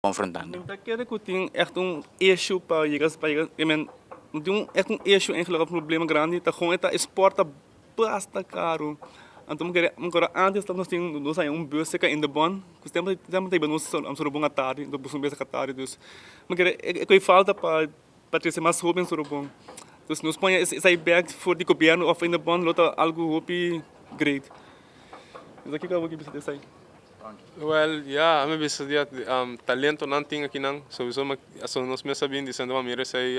konfrontando. Men ta kere ku tin ègt un ishu pa yega pa yega i men no tin un ègt un ishu en loke problema grandi ta kon e ta esporta basta karu anto mi kere mi kòrda antes ta nos tin nos haña un bus seka inda bòn ku semper semper ta hiba nos a su robon a tardi anto busu un bes saka tardi dus mi kere e kue falta pa. Pa trese mas hobennan solo bon. Dus nos pone esai bek for di gobierno of ende bon lo ta algu hopi great. Esaki ku abo ke bisa di esai. Well ya ami bisa di talento nan tin akinan sobiso aso nos mes a bin disende bo a mira esai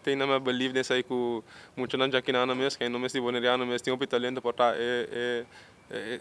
tin ami a believe den esai ku muchanan jakinano mes ku e no mes di boneriano mes tin hopi talento por ta e E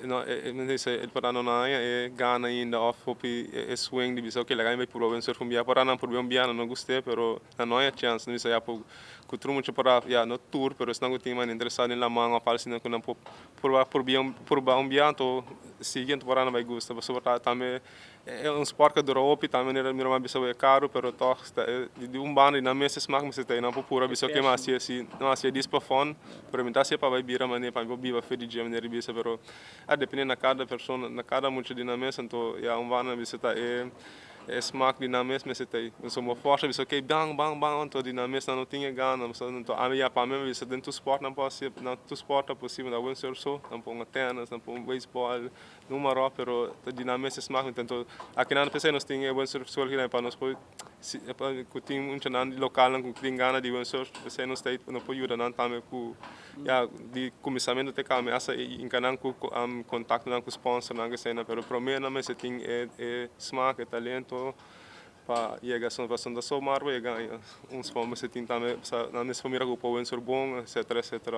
por nan haña e gana ainda of hopi e suen di bisa oke laga mi bai purba bai surf un bia, por nan purba un bia nan no guste pero nan no haña chance nan bisa ya por cu tur mucha por ya no tur pero esnan cu tin manda interesa den laman of algo asina cu nan por purba un bia anto siguiente por nan bai gusta pasobra tambe E un sport cu a dura hopi, tambe manera mira mas bisa wee caro, pero toch ta e di un banda y nan mes ta smaak mester ta e nan por pura bisa oke mi a haci asi, no a haci dis pa fun, pero mi ta haci pa bai bira mane pa mi por biba fe di dje manera di bisa, pero a depende na cada persona, na cada mucha di nan mes, anto ya un banda bisa ta e e smaak di nan mes mester ta e, mi so bo forsa bisa oke ban ban ban anto di nan mes nan no tin e gana, pasobra nan ta ami ya pa mi a bisa den tur sport nan por haci, nan tur sport ta posibel, nan ta win surf so, nan por hunga tennis, nan por hunga baseball, Un maró pero ta di nan mester smak nuntu anto akinan no pensé nos tin e buen sort school akinan pa nos por ku tin mucha nan di local nan ku tin gana di buen sort esei nos ta no por yuda nan tambe ku ya di kuminsamentu te kaba mi hasta inka nan ku kontakto nan ku sponsor nan ku esei nan pero promé nan mester tin e e smak e talento pa yega asun pasobra asun ta so mara pa yega aña un spon mester tin tambe pasobra nan mester por mira ku por buen sort bon etcetera etcetera